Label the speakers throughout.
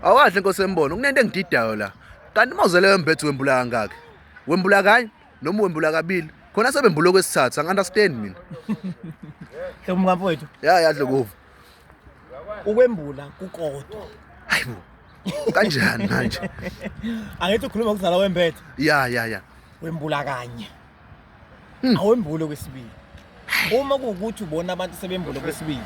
Speaker 1: Awahle nkosi embono kunento engididayo la. Kanti mawuzele wembethu wembula kangaki? Wembula kanye noma wembula kabili? Khona sebembula kwesithathu angi understand mina.
Speaker 2: Hlobo mkamfowethu. Ya ya dlokuva. Ukwembula kukodwa. Hayibo.
Speaker 1: Kanjani manje? Angithi
Speaker 2: ukhuluma ukuzala wembethu. Ya ya ya.
Speaker 1: Wembula kanye.
Speaker 2: Hmm. awembule okwesibili uma kuwukuthi ubona abantu sebembule okwesibili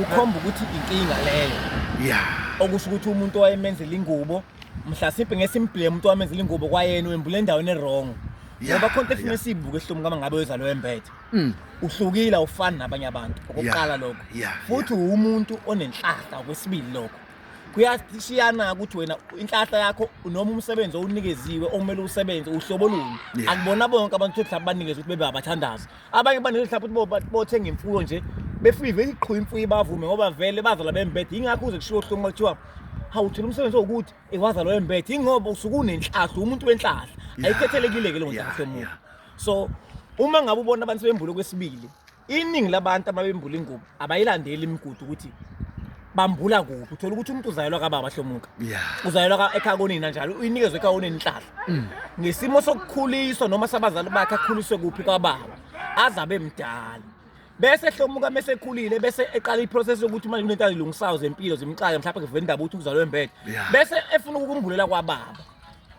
Speaker 2: ukhomba ukuthi inkinga leyo ya okusho ukuthi umuntu owayemenzela ingubo mhlasimpe ngesimbhile umuntu owamenzela ingubo kwayena wembule endaweni erong Ya, ngoba khonto efuna ya. esiyibuke esihlumi kama ngabe weza loyo embethe Mm. uhlukile awufani nabanye abantu okokuqala lokho ya, futhi uwumuntu onenhlahla okwesibili lokho kuyashiyana ukuthi wena inhlahla yakho noma umsebenzi owunikeziwe okumele usebenze uhlobo luni Yeah. akubona bonke abantu ukuthi mhlawumbe banikezwe ukuthi bebe abathandazi abanye banikezwe mhlawumbe ukuthi bo- bothenga imfuyo nje befike vele iqhuba imfuyo ibavume ngoba vele bazalwa bembethe yingakho uze kushiwo hlungu kuthiwa hawu thina umsebenzi wokuthi iwazalwa wembethe yingoba usuke unenhlahla umuntu wenhlahla Yeah. ayikhethelekile-ke leyo Yeah, nhlahla yomuntu yeah. so uma ngabe ubona abantu sebembule kwesibili iningi labantu ababembula ingubo abayilandeli imigudu ukuthi bambula kuphi uthola ukuthi umuntu uzayelwa kababa hlomuka yeah. uzayelwa ka ekhaya konina njalo uyinikezwe ekhaya konina inhlahla mm. ngesimo sokukhuliswa noma sabazali bakhe akhuliswe kuphi kwababa azabe mdala bese hlomuka mese ekhulile bese eqala iprocess yokuthi manje kunento azilungisayo zempilo zimxake mhlawumbe kuvela indaba ukuthi uzalwe embethe bese efuna ukukumbulela kwababa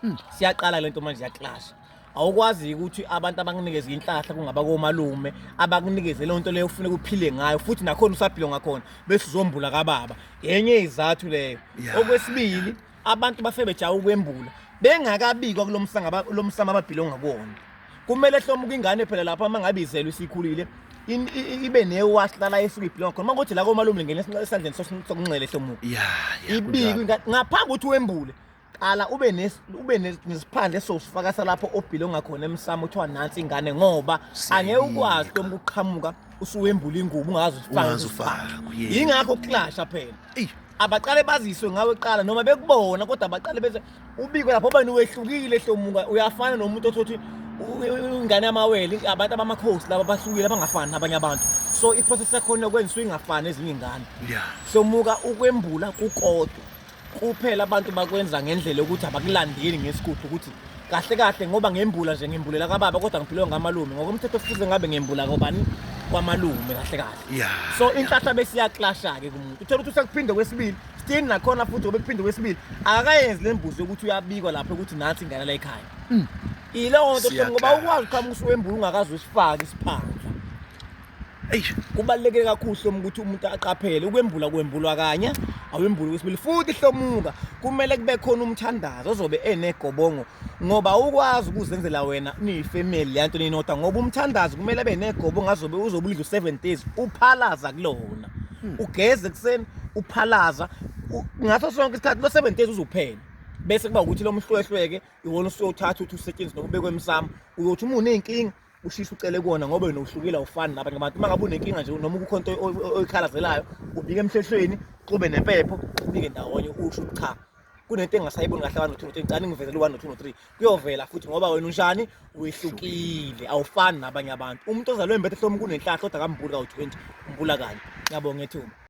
Speaker 2: hmm. siyaqala lento manje ya clash awukwazi ukuthi abantu abanginikeza inhlahla kungaba komalume abakunikeze leyo nto leyo ufune kuphile ngayo futhi nakhona usaphile ngakhona bese uzombula kababa yenye izathu leyo okwesibili abantu bafike bejawa ukwembula bengakabikwa kulomsanga lomsama ababhilo ngakuwona kumele hlomuka ingane phela lapha uma ngabe izelwe isikhulile ibe newash lala esuke ibhilo ngakhona uma kuthi la komalume ngene esandleni sokunxele hlomuka ibikwe ngaphambi ukuthi wembule qala ube nes ube nesiphandle sosifaka salapho obhile ongakhona emsamo kuthiwa nansi ingane ngoba angeke ukwazi noma ukuqhamuka usuwembula ingubo ungazi usifaka yingakho uklasha phela abaqale baziswe ngawe qala noma bekubona kodwa abaqale bese ubikwe lapho obani wehlukile hlomuka uyafana nomuntu othothi ingane yamawele abantu abamakhosi laba bahlukile abangafani nabanye abantu so iprocess yakhona yokwenziswa ingafani ezinye ingane somuka ukwembula kukodwa kuphela abantu bakwenza ngendlela yokuthi abakulandeli ngesigubhu ukuthi kahle kahle ngoba ngembula nje ngembulela kababa kodwa ngiphilewe ngamalume ngokomthetho kufuze ngabe ngembula kobani kwamalume kahle kahle Yeah, so inhlahla besiyaklasha-ke kumuntu uthole ukuthi usekuphinde kwesibili still nakhona futhi obekuphinde kwesibili akakayenzi le mbuzo yokuthi uyabikwa lapho ukuthi nathi ingane la ekhaya ileyo nto Siyaklasha. ngoba ukwazi uqhamuka usuwembula ungakazi usifake isiphandla eyi kubaluleke kakhulu hloma ukuthi umuntu aqaphele ukwembula kwembulwa kanye awembule kwesibili futhi hlomuka kumele kube khona umthandazo ozobe enegobongo ngoba ukwazi ukuzenzela wena niyifamily yanto ninodwa ngoba umthandazo kumele abe negobongo azobe uzobulidla u-seven days uphalaza kulona hmm. ugeze ekuseni uphalaza ngaso sonke isikhathi lo-seven days uzophela bese kuba ukuthi lo mhlwehlweke iwona usuyothatha uthi usetshenziswa nokubekwa emsamo uyothi uma uney'nkinga ushisa ucele kuwona ngoba wena uhlukile awufani nabanye abantu uma ngabe unenkinga nje noma kukho into oyikhalazelayo ubike emhlehlweni xube nempepho ubike ndawonye usho ukuthi cha kunento engasayiboni kahle abantu two three cani ngivezela u-one two three kuyovela futhi ngoba wena unjani wehlukile awufani nabanye abantu umuntu ozalwe mbethe hloma kunenhlahla kodwa kambuli kawu-twenty umbula kanye ngiyabonga ethuba